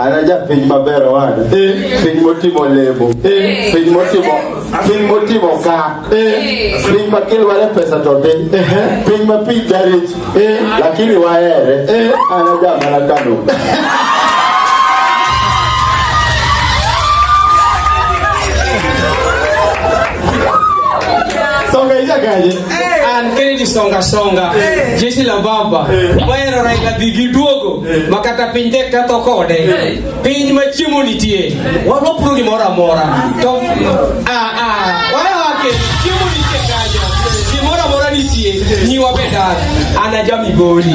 Anaja piny maber wana. Eh. Piny motimo lemo. Eh. Piny motimo piny motimo ka. Eh. Piny ma kilware pesa to dhi. Piny ma piny darich. Lakini wahere. Anaja mana kano. Songa ija kaje. An Kennedy Songa Songa. Jeshi la Baba. Waero Raila Digi Duogo. ma kata piny tek katho kode piny ma chiemo nitie wapuro gimoro amora to wayawake chiemo nitie kanyo gimoro amora nitie nyiwa be dak an aja migori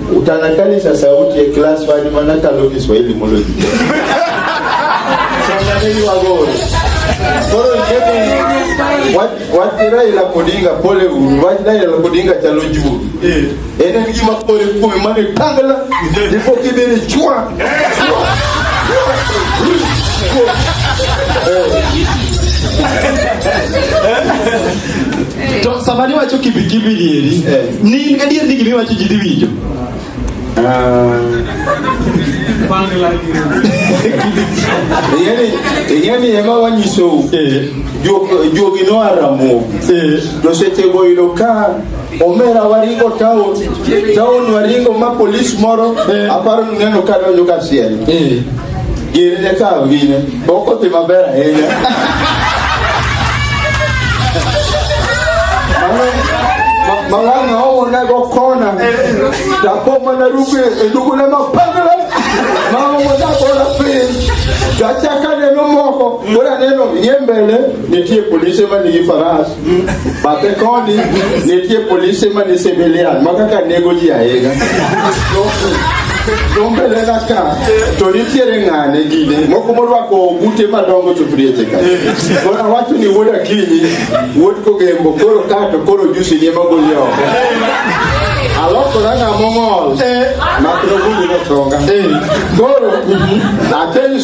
Utanakalisha sauti ya class wani manaka lo Kiswahili mulo. Sanganeni wagori. Koro kemi watira ila kodinga pole uru, watira ila kodinga chalo juu. Eh. Ene ngi makore kume mane tangala, nipo kibini chua. Chua. Eh. To sama niwacho kibikibi nieri, eh. ni adier ni gima iwacho ji dhi winjo. Ah. ing'eni ema wanyisou eh. jogi noa ramogi eh. to sechego yudo ka omera waringo town town waringo ma polis moro aparo neno ka donjo ka siel Gini ne kawo gine, boko ti maber ahinya. Malanga owo ne go kona, dapo mana ruke e dugu ne ma pangre, ma owo da kona piny. Dachaka neno moko, mura neno yembele, nitie polise ma nigi faras. Bathe koni nitie polise ma ni civilian ma kaka nego ji ahinya. Dombele na ka to nitiere ng'ane gine moko morwako ogute madongo to prieche ka. Koro awacho ni wuod Akinyi wuod Kogembo koro ka to koro jusi ni magoli oko. Alokora ng'amo ng'ol. Makro gundi no songa. Koro apenjo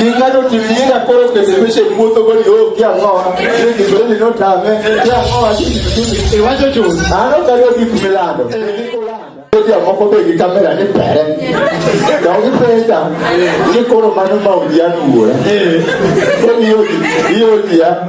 Ingano tuliinga koro kesebeshe mwoto goli o kia ngoa. Ile kiswahili no tame. Kia ngoa chini chini. Iwacho chuni. Ano kariyo kikumilando. Kia moko be gi kamera ni pere. Da ugi peta. Ni koro mano ma udianu uwe. Koni yogi. Yogi ya.